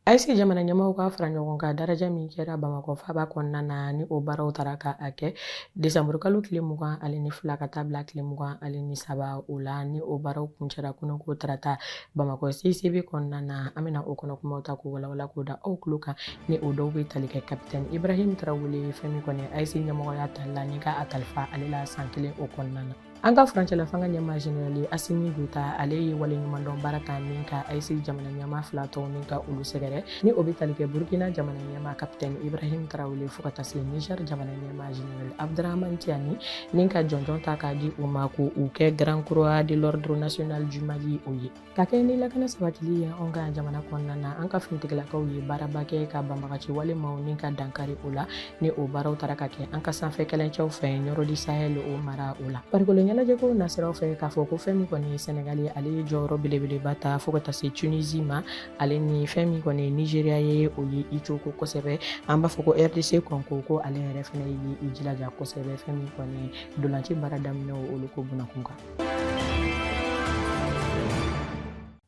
ayise jamana ɲɛmaaw ka fara ɲɔgɔn kan daraja min kɛra bamakɔ faaba kɔnɔna na ni o baaraw tara ka a kɛ desanburukalo tile mugan ale ni fila ka taa bila tile mugan ale ni saba o la ni o baaraw kuncɛra kununko tarata Bamakɔ CICB kɔnɔna na an bɛna o kɔnɔ kumaw ta k'u walawala k'o da aw tulo kan ni o dɔw bɛ tali kɛ kapitɛni Ibrahim Tarawele fɛn min kɔni AES ɲɛmɔgɔya tali la ni ka a kalifa ale la san kelen o kɔnɔna na. An ka furancɛla fanga ɲɛmaa jenerali Asimi Goita ale ye waleɲumandɔn baara ta ni ka AES jamana ɲɛmaa fila tɔw ni ka olu sɛgɛrɛ ni o bɛ tali kɛ Burukina jamana ɲɛmaa kapitɛni Ibrahim Tarawele fo ka taa se Niger jamana ɲɛmaa Général Abdourahamane Tiani ni ka jɔnjɔn ta k'a di u ma ko u kɛ Grand Croix de l'Ordre National du Mali o ye ka kɛɲɛ ni lakana sabatili ye anw ka jamana kɔnɔna na an ka finitigilakaw ye baaraba kɛ ka banbaganci walemaw ni ka dankari o la ni o baaraw tara ka kɛ an ka sanfɛ kɛlɛcɛw fɛ nioro du sahel o mara o la farikolo ɲɛnajɛko nasiraw fɛ k'a fɔ ko fɛn min kɔni ye sɛnɛgali ye ale ye jɔyɔrɔ belebeleba ta fo ka taa se tunisie ma ale ni fɛn min kɔni ye nizeriya ye o ye i cogo kosɛbɛ an b'a fɔ ko rdc kɔngo ko ale yɛrɛ fana ye i jilaja kosɛbɛ fɛn min kɔni ntolanci baara daminɛ olu ko bunakun kan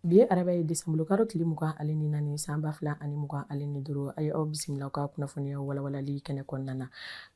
bi ye araba ye desanburu kalo tile mugan ale ni naani san ba fila ani mugan ale ni duuru a ye aw bisimila ka kunnafoniya walawalali kɛnɛ kɔnɔna na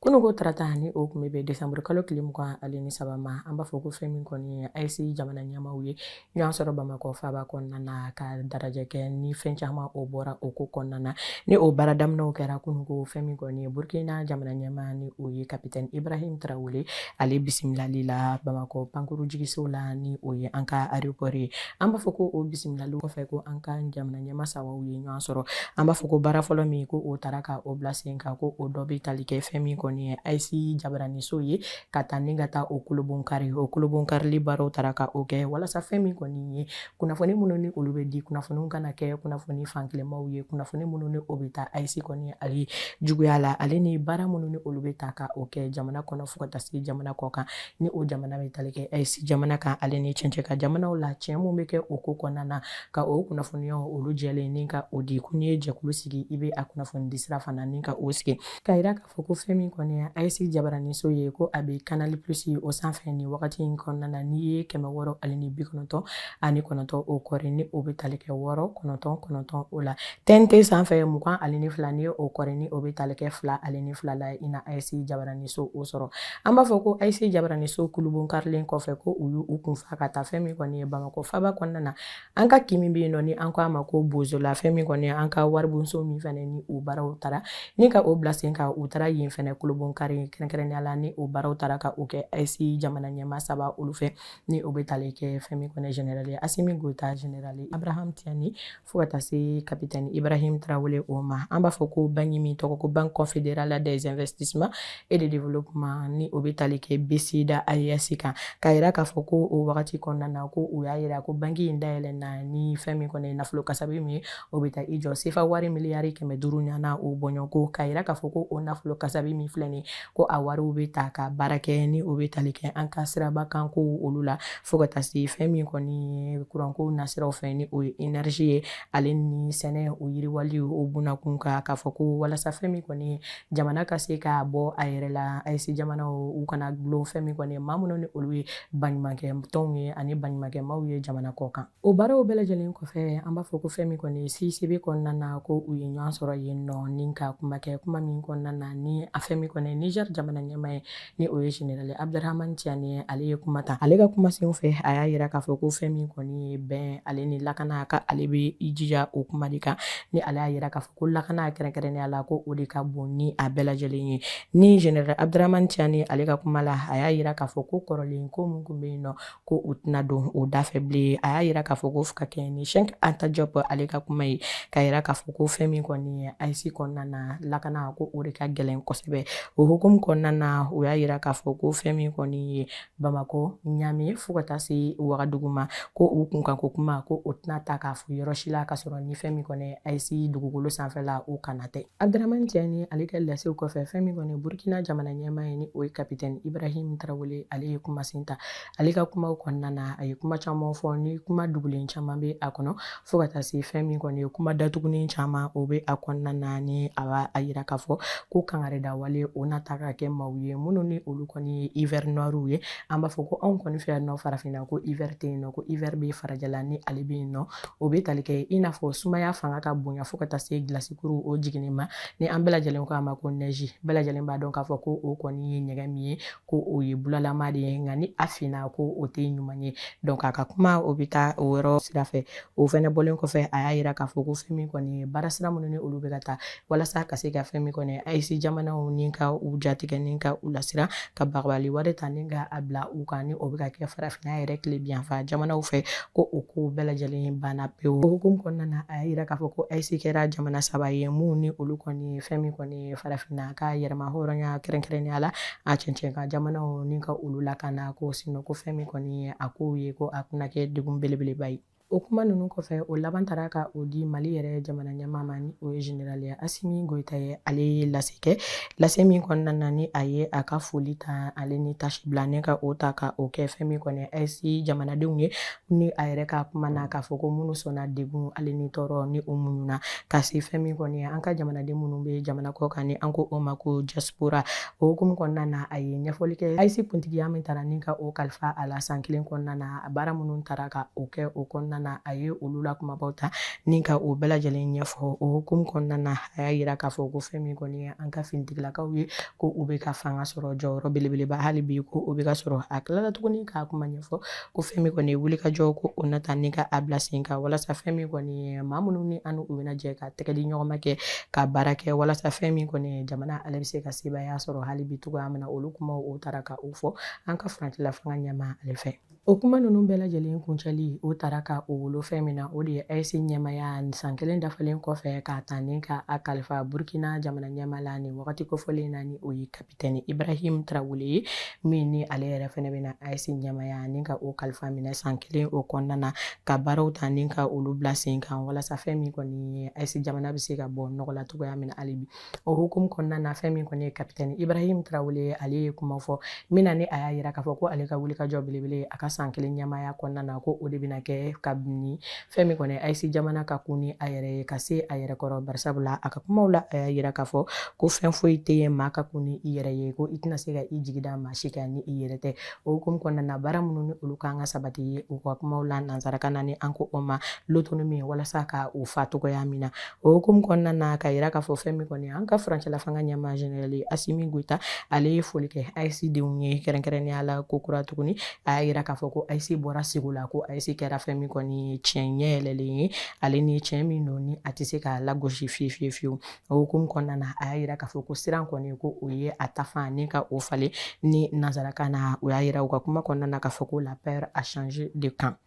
kununko tarata ni o tun bɛ bɛn desanburu kalo tile mugan ale ni saba ma an b'a fɔ ko fɛn min kɔni ye ayise jamana ɲɛmaaw ye Ɲɔgɔn sɔrɔ bamakɔ faaba kɔnɔna na ka darajɛ kɛ ni fɛn caman o bɔra o ko kɔnɔna na ni o baara daminɛw kɛra kununko fɛn min kɔni ye burukina jamana ɲɛmaa ni o ye kapitɛni ibrahim tarawele ale bisimilali la bamakɔ pankurun jigiso la ni o ye an ka aéroport ye an b'a fɔ ko o bisimilali kɔfɛ ko an ka jamana ɲɛmaa sabaw ye ɲɔgɔn sɔrɔ an b'a fɔ ko baara fɔlɔ min ko o tara ka o bila sen kan ko o dɔ bɛ tali kɛ fɛn min kɔni ye ayise jabaraninso ye ka taa ni ka taa o kulunbonkari o kulunbonkarili baaraw tara ka o kɛ walasa fɛn min kɔni ye kunnafoni minnu ni olu bɛ di kunnafoniw kana kɛ kunnafoni fankelenmaw ye kunnafoni minnu ni o bɛ taa ayise kɔni ale juguya la ale ni baara minnu ni olu bɛ ta ka o kɛ jamana kɔnɔ fo ka taa se jamana kɔ kan ni o jamana bɛ tali kɛ ayise jamana kan ale ni cɛncɛn kan jamanaw la tiɲɛ minnu bɛ kɛ o ko kɔnɔna na ka o kunnafoniya olu jɛlen ni ka o di ko n'i ye jɛkulu sigi i bɛ a kunnafoni di sira fana ni ka o sigi ka fɔ ko fɛn min kɔni ye ayise jabaraninso ye ko a bɛ kanali plus o sanfɛ nin wagati in kɔnɔna na n'i ye kɛmɛ wɔɔrɔ ani ni bi kɔnɔntɔn ani kɔnɔntɔn o kɔri ni o bɛ tali kɛ wɔɔrɔ kɔnɔntɔn kɔnɔntɔn o la tnt sanfɛ mugan ani ni fila n'i ye o kɔri ni o bɛ tali kɛ fila ani ni fila la i na ayise jabaraninso o sɔrɔ an b'a fɔ ko ayise jabaraninso kulunbonkarilen kɔfɛ ko u y'u kunfa ka taa fɛn min kɔni ye bamakɔ faaba kɔnɔna na an ka kin min bɛ yen nɔ ni an ko a ma ko bozola fɛn min kɔni an ka waribonso min fɛnɛ ni o baaraw taara ni ka o bila sen kan u taara yen fɛnɛ kolobonkari kɛrɛnkɛrɛnnenya la ni o baaraw taara ka o kɛ ayisi jamana ɲɛmaa saba olu fɛ ni o bɛ tali kɛ fɛn min kɔni generali asimi goyita generali abdurahman tiani fo ka taa se kapitɛni ibrahim tarawele o ma an b'a fɔ ko banki min tɔgɔ ko banque confédérale des investissements et de développement ni o bɛ tali kɛ BCID AES kan k'a yira k'a fɔ ko o wagati kɔnɔna na ko u y'a yira ko banki in dayɛlɛ na ni fɛn min kɔni ye nafolo kasabi min ye o bɛ taa i jɔ sefa wari miliyari kɛmɛ duuru ɲana o bɔɲɔgɔnko k'a yira k'a fɔ ko o nafolo kasabi min filɛ nin ko a wariw bɛ ta ka baara kɛ ni o bɛ tali kɛ an ka siraba kan ko olu la fo ka taa se fɛn min kɔni ye kuranko nasiraw fɛ ni o ye énergie ye ale ni sɛnɛ o yiriwali o bunakun kan k'a fɔ ko walasa fɛn min kɔni ye jamana ka se k'a bɔ a yɛrɛ la ayise jamana u kana gulon fɛn min kɔni maa minnu ni olu ye baɲumankɛ tɔnw ye ani baɲumankɛ maaw ye jamana kɔ kan o baaraw bɛɛ lajɛlen kɔfɛ an b'a fɔ ko fɛn min kɔni CICB kɔnɔna na ko u ye ɲɔgɔn sɔrɔ yen nɔ ni ka kuma kɛ kuma min kɔnɔna na ni a fɛn min kɔni niger jamana ɲɛmaa ye ni o ye général abdurahman tiani ye ale ye kuma ta ale ka kuma sen fɛ a y'a yira k'a fɔ ko fɛn min kɔni ye bɛn ale ni lakana ka ale bɛ i jija o kuma de kan ni ale y'a yira k'a fɔ ko lakana kɛrɛnkɛrɛnnenya la ko o de ka bon ni a bɛɛ lajɛlen ye ni général abdramani tiani ale ka kuma la a y'a yira k'a fɔ ko kɔrɔlen ko min kun bɛ yen nɔ ko u tɛna don o da fɛ bilen a y'a yira k'a fɔ ko ka kɛɲɛ ni cheikh anta diop ale ka kuma ye k'a yira k'a fɔ ko fɛn min kɔni ye ayisi kɔnɔna na lakana ko o de ka gɛlɛn kosɛbɛ o hukumu kɔnɔna na o y'a yira k'a fɔ ko fɛn min kɔni ye bamakɔ ɲame fo ka taa se wagadugu ma ko u kun kan ko kuma ko o tɛna ta k'a fɔ yɔrɔ si la ka sɔrɔ ni fɛn min kɔni ayisi dugukolo sanfɛla o kana tɛ abdramani tiani ale ka lasew kɔfɛ fɛn min kɔni burkina jamana ɲɛmaa ye ni o ye kapitɛni ibrahim tarawele ale ye kumasen ta ale ka kumaw kɔnɔna na a ye kuma caman fɔ ni kuma dugulen caman bɛ a kɔnɔ fo ka taa se fɛn min kɔni ye kuma datugunen caman o bɛ a kɔnɔna na ni a b'a yira k'a fɔ ko kangarida wale o na ta ka kɛ maaw ye minnu ni olu kɔni ye hiver noir ye an b'a fɔ ko anw kɔni fɛ yan nɔ farafinna ko hiver tɛ yen nɔ ko hiver bɛ farajɛla ni ale bɛ yen nɔ o bɛ tali kɛ i n'a fɔ sumaya fanga ka bonya fo ka taa se gilasikuru o jiginni ma ni an bɛɛ lajɛlen ko a ma ko neige bɛɛ lajɛlen b'a dɔn k'a fɔ ko o kɔni ye ɲɛgɛn min ye ko o ye bulalama de ye nka ni a finna ko o tɛ ɲuman ye donc a ka kuma o bɛ taa o yɔrɔ sira fɛ o fɛnɛ bɔlen kɔfɛ a y'a yira k'a fɔ ko fɛn min kɔni ye baara sira minnu ni olu bɛ ka taa walasa ka se ka fɛn min kɔni ayise jamanaw ni ka u jatigɛ ni ka u lasiran ka bagabagali wale ta ni ka a bila u kan ni o bɛ ka kɛ farafinna yɛrɛ tilebinyanfan jamanaw fɛ ko o kow bɛɛ lajɛlen banna pewu o hukumu kɔnɔna na a y'a yira k'a fɔ ko ayise kɛra jamana saba ye mun ni olu kɔni ye fɛn min kɔni ye farafinna ka yɛrɛmahɔrɔnya kɛrɛnkɛrɛnnenya la a cɛncɛn kan jamanaw ni ka olu lakana ko sinon ko fɛn min kɔni ye a kow ye ko a tɛna kɛ degun belebeleba ye o kuma ninnu kɔfɛ o laban taara ka o di mali yɛrɛ jamana ɲɛmaa ma ni o ye generali asimi goyita ye ale ye lase kɛ lase min kɔnɔna na ni a ye a ka foli ta ale ni tasibila ni ka o ta ka o kɛ fɛn min kɔni AES jamanadenw ye ni a yɛrɛ ka kuma na k'a fɔ ko minnu sɔnna degun ale ni tɔɔrɔ ni u muɲuna ka se fɛn min kɔni ye an ka jamanaden minnu bɛ jamana kɔ kan ni an ko o ma ko diaspora o hukumu kɔnɔna na a ye ɲɛfɔli kɛ AES kuntigiya min tara ni ka o kalifa a la san kelen kɔnɔna na a baara minnu tara ka o kɛ o kɔnɔna na a ye olu la kumabaw ta ni ka o bɛɛ lajɛlen ɲɛfɔ o hukumu kɔnɔna na a y'a yira k'a fɔ ko fɛn min kɔni ye an ka finitigilakaw ye ko u bɛ ka fanga sɔrɔ jɔyɔrɔ belebeleba hali bi ko o bɛ ka sɔrɔ a tilala tuguni k'a kuma ɲɛfɔ ko fɛn min kɔni ye wulikajɔ ko o na ta ni ka a bila sen kan walasa fɛn min kɔni ye maa minnu ni an u bɛna jɛ ka tɛgɛ di ɲɔgɔn ma kɛ ka baara kɛ walasa fɛn min kɔni ye jamana ale bɛ se ka sebaaya sɔrɔ hali bi cogoya min na olu kumaw o taara ka o fɔ an ka furancɛla fanga ɲɛmaa ale fɛ o kuma ninnu bɛɛ lajɛlen kuncɛli o taara ka o wolo fɛn min na o de ye AES ɲɛmaaya san kelen dafalen kɔfɛ k'a ta ni ka a kalifa burukina jamana ɲɛmaa la nin wagati kofɔlen na ni o ye ka pitɛni ibrahim tarawele ye min ni ale yɛrɛ fɛnɛ bɛna AES ɲɛmaaya ni ka o kalifa minɛ san kelen o kɔnɔna na ka baaraw ta ni ka olu bila sen kan walasa fɛn min kɔni ye AES jamana bɛ se ka bɔ nɔgɔ la cogoya min na hali bi o hukumu kɔnɔna na fɛn min kɔni ye kapitɛni ibrahim tarawele ye ale ye kuma fɔ min na ni a y'a yira k'a fɔ ko ale ka wulikajɔ belebele a ka san kelen ɲɛmaaya kɔnɔna na ko o de bɛna kɛ kabini fɛn min kɔni AES jamana ka kun ni a yɛrɛ ye ka se a yɛrɛ kɔrɔ barisabu la a ka kumaw la a y'a yira k'a fɔ ko fɛn foyi tɛ yen maa ka kun ni i yɛrɛ ye ko i tɛna se ka i jigi da maa si kan ni i yɛrɛ tɛ o hukumu kɔnɔna na baara minnu ni olu kan ka sabati ye u ka kumaw la nansarakan na ni an ko o ma l'autonomie walasa ka u fa cogoya min na O hukumu kɔnɔna na k'a yira k'a fɔ fɛn min kɔni an ka furancɛla fanga ɲɛmaa generali Asimi Goyita ale ye foli kɛ AES denw ye kɛrɛnkɛrɛnnenya la ko kura tuguni a y'a yira k'a fɔ ko AES bɔra sugo la ko AES kɛra fɛn min kɔni ye tiɲɛ ɲɛ yɛlɛlen ye ale ni tiɲɛ min don ni a tɛ se ka lagosi fiye fiye fiyewu o hukumu kɔnɔna na a y'a yira k'a fɔ ko siran kɔni ko o ye a ta fan ni ka o falen ni nansarakan na o y'a yira u ka kuma kɔnɔna na k'a fɔ ko la peur a changé de camp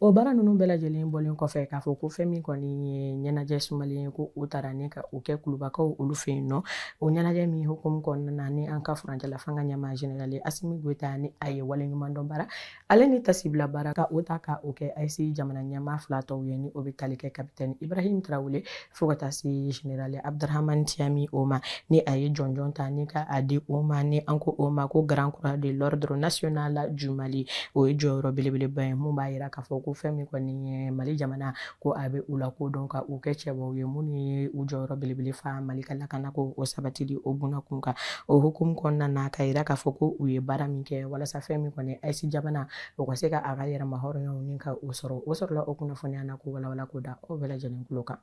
O baara ninnu bɛɛ lajɛlen bɔlen kɔfɛ k'a fɔ ko fɛn min kɔni ye ɲɛnajɛ sumalen ye ko o taara ni ka o kɛ kulubakaw olu fɛ yen nɔ o ɲɛnajɛ min hukumu kɔnɔna na ni an ka furancɛla fanga ɲɛmaa generali asimi goyita ni a ye waleɲuman dɔn baara ale ni tasibila baara ka o ta ka o kɛ AES jamana ɲɛmaa fila tɔw ye ni o bɛ tali kɛ kapitɛni ibrahim tarawele fo ka taa se general abdrahamani tiani o ma ni a ye jɔnjɔn ta ni ka a di o ma ni an ko o ma ko grand croix de l'ordre national du mali o ye jɔyɔrɔ belebeleba ye mun b'a yira k'a fɔ ko fɛn min kɔni ye mali jamana ko a bɛ u la ko dɔn ka u kɛ cɛbaw ye minnu ye u jɔyɔrɔ belebele fa mali ka lakana ko o sabatili o buna kun kan o hukumu kɔnɔna na ka yira k'a fɔ ko u ye baara min kɛ walasa fɛn min kɔni aes jamana o ka se ka a ka yɛrɛmahɔrɔnya o ni ka o sɔrɔ o sɔrɔla o kunnafoniya na k'o walawala k'o da aw bɛɛ lajɛlen tulo kan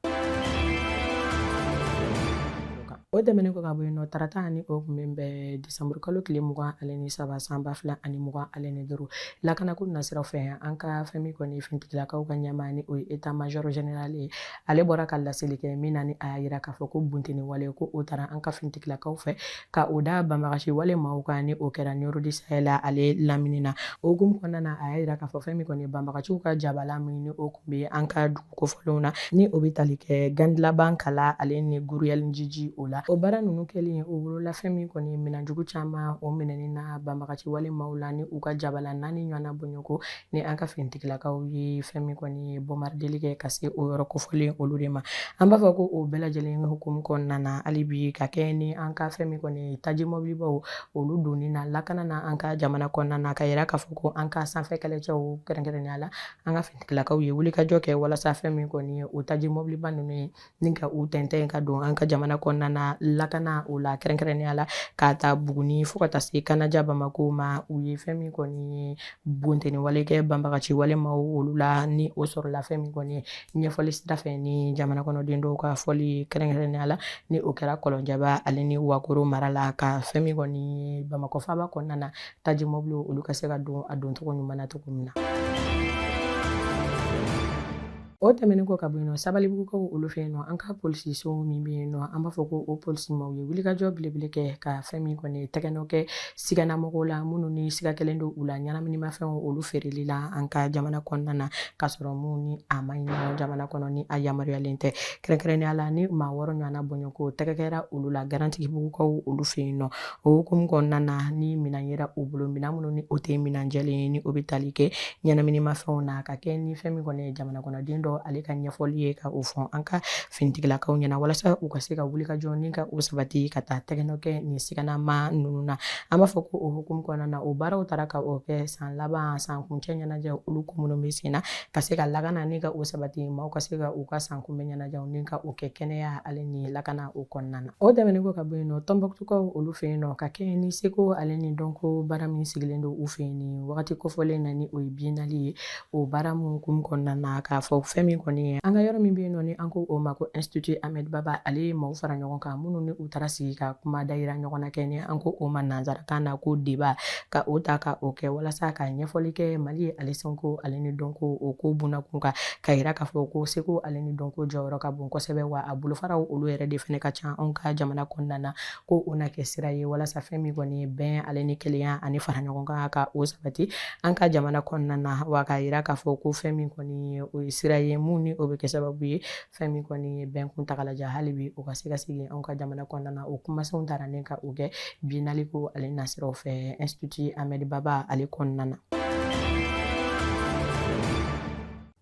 o tɛmɛnen kɔ ka bɔ yen nɔ tarata ani o kun min bɛ desanburu kalo tile mugan ale ni saba san ba fila ani mugan ale ni duuru lakanako nasiraw fɛ an ka fɛn min kɔni finitigilakaw ka ɲɛmaa ni o ye état major général ye ale bɔra ka laseli kɛ min na ni a y'a yira k'a fɔ ko bunteni wale ko o taara an ka finitigilakaw fɛ ka o da banbagaci wale maaw kan ni o kɛra nioro du sahel ale lamini na o hukumu kɔnɔna na a y'a yira k'a fɔ fɛn min kɔni banbagaciw ka jabala min ni o kun bɛ an ka dugu kofɔlenw na ni o bɛ tali kɛ gandilaban kala ale ni guruyɛlinjiji o la o baara ninnu kɛlen o wolola fɛn min kɔni minɛnjugu caman o minɛni na banbagaci wale maaw la ni u ka jabala naani ɲɔgɔnna bɔɲɔgɔnko ni an ka finitigilakaw ye fɛn min kɔni ye bɔmarideli kɛ ka se o yɔrɔ kofɔlen olu de ma an b'a fɔ ko o bɛɛ lajɛlen hukumu kɔnɔna na hali bi ka kɛ ni an ka fɛn min kɔni taji mɔbilibaw olu donni na lakana na an ka jamana kɔnɔna na ka yira k'a fɔ ko an ka sanfɛ kɛlɛcɛw kɛrɛnkɛrɛnnenya la an ka finitigilakaw ye wulikajɔ kɛ walasa fɛn min kɔni ye o taji mɔbiliba ninnu ye ni ka u tɛntɛn ka don an ka jamana kɔnɔna na lakana o la kɛrɛnkɛrɛnnenya la k'a ta buguni fo ka taa se kanaja bamakɔ ma u ye fɛn min kɔni ye bunteni wale kɛ banbagaci walemaw olu la ni o sɔrɔla fɛn min kɔni ye ɲɛfɔli sira fɛ ni jamana kɔnɔden dɔw ka fɔli ye kɛrɛnkɛrɛnnenya la ni o kɛra kɔlɔnjɛba ale ni wakoro mara la ka fɛn min kɔni ye bamakɔ faaba kɔnɔna na taji mɔbili olu ka se ka don a doncogo ɲuman na cogo min na o tɛmɛnen kɔ ka bɔ yen nɔ sabalibugukaw olu fɛ yen nɔ an ka polisiso min bɛ yen nɔ an b'a fɔ ko o polisi maaw ye wulikajɔ belebele kɛ ka fɛn min kɔni tɛgɛnɔ kɛ siganamɔgɔw la minnu ni siga kɛlen don u la ɲɛnaminimafɛnw olu feereli la an ka jamana kɔnɔna na k'a sɔrɔ mun ni a man ɲi o jamana kɔnɔ ni a yamaruyalen tɛ kɛrɛnkɛrɛnnenya la ni maa wɔɔrɔ ɲɔgɔnna bɔɲɔgɔnko tɛgɛ kɛra olu la garantigibugukaw olu fɛ yen nɔ o hukumu kɔnɔna na ni minɛn yera u bolo minɛn minnu ni o tɛ minɛn jɛlen ye ni o bɛ tali kɛ ɲɛnaminimafɛnw na ka kɛ ni fɛn min kɔni ye jamana kɔnɔden dɔ ale ka ɲɛfɔli ye ka o fɔ an ka finitigilakaw ɲɛna walasa u ka se ka wulikajɔ ni ka o sabati ka taa tɛgɛnɔ kɛ nin siganamaa ninnu na an b'a fɔ ko o hukumu kɔnɔna na o baaraw taara ka o kɛ san laban san kuncɛ ɲɛnajɛ olu ko minnu bɛ sen na ka se ka lakana ni ka o sabati maaw ka se ka u ka san kunbɛn ɲɛnajɛw ni ka o kɛ kɛnɛya ale ni lakana o kɔnɔna na O tɛmɛnen kɔ ka bɔ yen nɔ tɔnbɔkutukaw olu fɛ yen nɔ ka kɛ ni seko ale ni dɔnko baara min sigilen don u fɛ yen ni wagati kofɔlen na ni o ye biennale ye o baara min hukumu kɔnɔna na k'a fɔ fɛn min kɔni ye an ka yɔrɔ min bɛ yen nɔ ni an ko o ma ko institut Ahmed Baba ale ye maaw fara ɲɔgɔn kan minnu ni u taara sigi ka kuma dayira ɲɔgɔn na kɛ ni an ko o ma nanzarakan na ko débat ka o ta ka o kɛ walasa ka ɲɛfɔli kɛ Mali ale seko ale ni dɔnko o ko bunakun kan ka yira k'a fɔ ko seko ale ni dɔnko jɔyɔrɔ ka bon kosɛbɛ wa a bolofaraw olu yɛrɛ de fana ka ca anw ka jamana kɔnɔna na ko o na kɛ sira ye walasa fɛn min kɔni ye bɛn ale ni kelenya ani fara ɲɔgɔn kan ka o sabati an ka jamana kɔnɔna na wa k'a yira k'a fɔ ko fɛn min kɔni ye o ye sira ye mun ni o bɛ kɛ sababu ye fɛn min kɔni ye bɛn kuntagalajan hali bi o ka se ka segin anw ka jamana kɔnɔna na o kumasenw taara ni ka o kɛ biennale ko ale nasiraw fɛ institut Ahmed Baba ale kɔnɔna na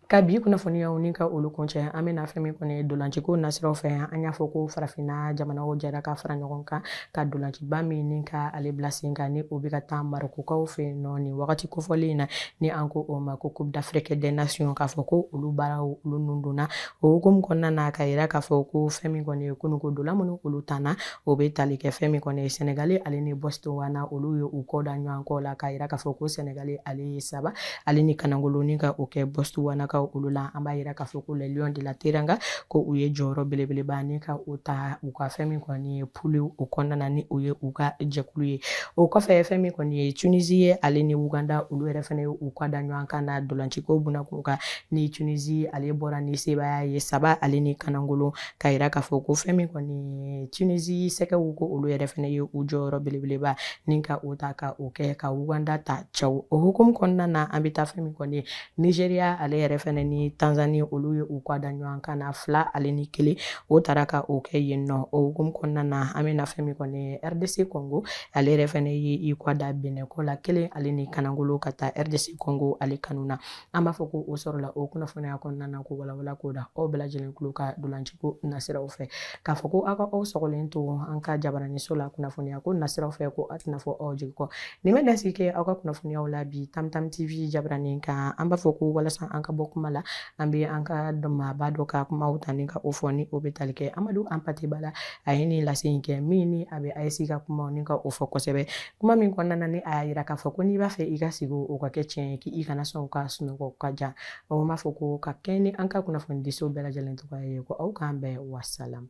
Ka bi kunnafoniyaw ni ka olu kuncɛ an bɛna fɛn min kɔni ye dolanciko nasiraw fɛ yan an y'a fɔ ko farafinna jamanaw jɛra ka fara ɲɔgɔn kan ka dolanciba min ni ka ale bila sen kan ni o bɛ ka taa marɔkukaw fɛ yen nɔ nin wagati kofɔlen in na ni an ko o ma ko coupe d'afrique des nations k'a fɔ ko olu baaraw olu nun donna o hukumu kɔnɔna na ka yira k'a fɔ ko fɛn min kɔni ye kununko dola minnu olu tanna o bɛ tali kɛ fɛn min kɔni ye sɛnɛgali ale ni Botswana olu ye u kɔ da ɲɔgɔn kɔ la k'a yira k'a fɔ ko sɛnɛgali ale ye saba ale ni kanangolo ni ka o kɛ Botswanakaw olu la an b'a yira k'a fɔ ko les lions de la teranga ko u ye jɔyɔrɔ belebeleba ni ka o ta u ka fɛn min kɔni ye poule o kɔnɔna na ni o ye u ka jɛkulu ye o kɔfɛ fɛn min kɔni ye tunisi ye ale ni uganda olu yɛrɛ fana ye u kan da ɲɔgɔn kan na dolanciko bunakun kan ni tunisi ale bɔra ni sebaaya ye saba ale ni kanangolo k'a yira k'a fɔ ko fɛn min kɔni tunisi sɛgɛw ko olu yɛrɛ fana ye u jɔyɔrɔ belebeleba ni ka o ta ka o kɛ ka uganda ta cɛw o hukumu kɔnɔna na an bɛ taa fɛn min kɔni nizeriya ale yɛrɛ fana ni tanzani olu ye u kan da ɲɔgɔn kan na fila ale ni kelen o taara ka o kɛ yen nɔ o hukumu kɔnɔna na an bɛ na fɛn min kɔni rdc kɔngo ale yɛrɛ fana ye i kɔ da Bénin kɔ la kelen ale ni kanangolo ka taa rdc kɔngo ale kanu na an b'a fɔ ko o sɔrɔla o kunnafoniya kɔnɔna na k'o walawala k'o da aw bɛɛ lajɛlen tulo kan dolanciko nasiraw fɛ k'a fɔ ko aw ka aw sɔgɔlen to an ka jabaraniso la kunnafoniya ko nasiraw fɛ ko a tɛna fɔ aw jigi kɔ nin bɛ dansigi kɛ aw ka kunnafoniyaw la bi tamtam tv jabaranin kan an b'a fɔ ko walasa an ka bɔ kuma la an bɛ an ka dɔnmaaba dɔ ka kumaw ta ni ka o fɔ ni o bɛ tali kɛ amadu Hampâté Bâ la a ye nin lase in kɛ min ni a bɛ ayisi ka kumaw ni ka o fɔ kosɛbɛ kuma min kɔnɔna na ni a y'a yira k'a fɔ ko n'i b'a fɛ i ka sugo o ka kɛ tiɲɛ ye k'i kana sɔn ka sunɔgɔ ka jan an b'a fɔ ko ka kɛ ni an ka kunnafoni diso bɛɛ lajɛlen tɔgɔya ye ko aw k'an bɛn wasalamu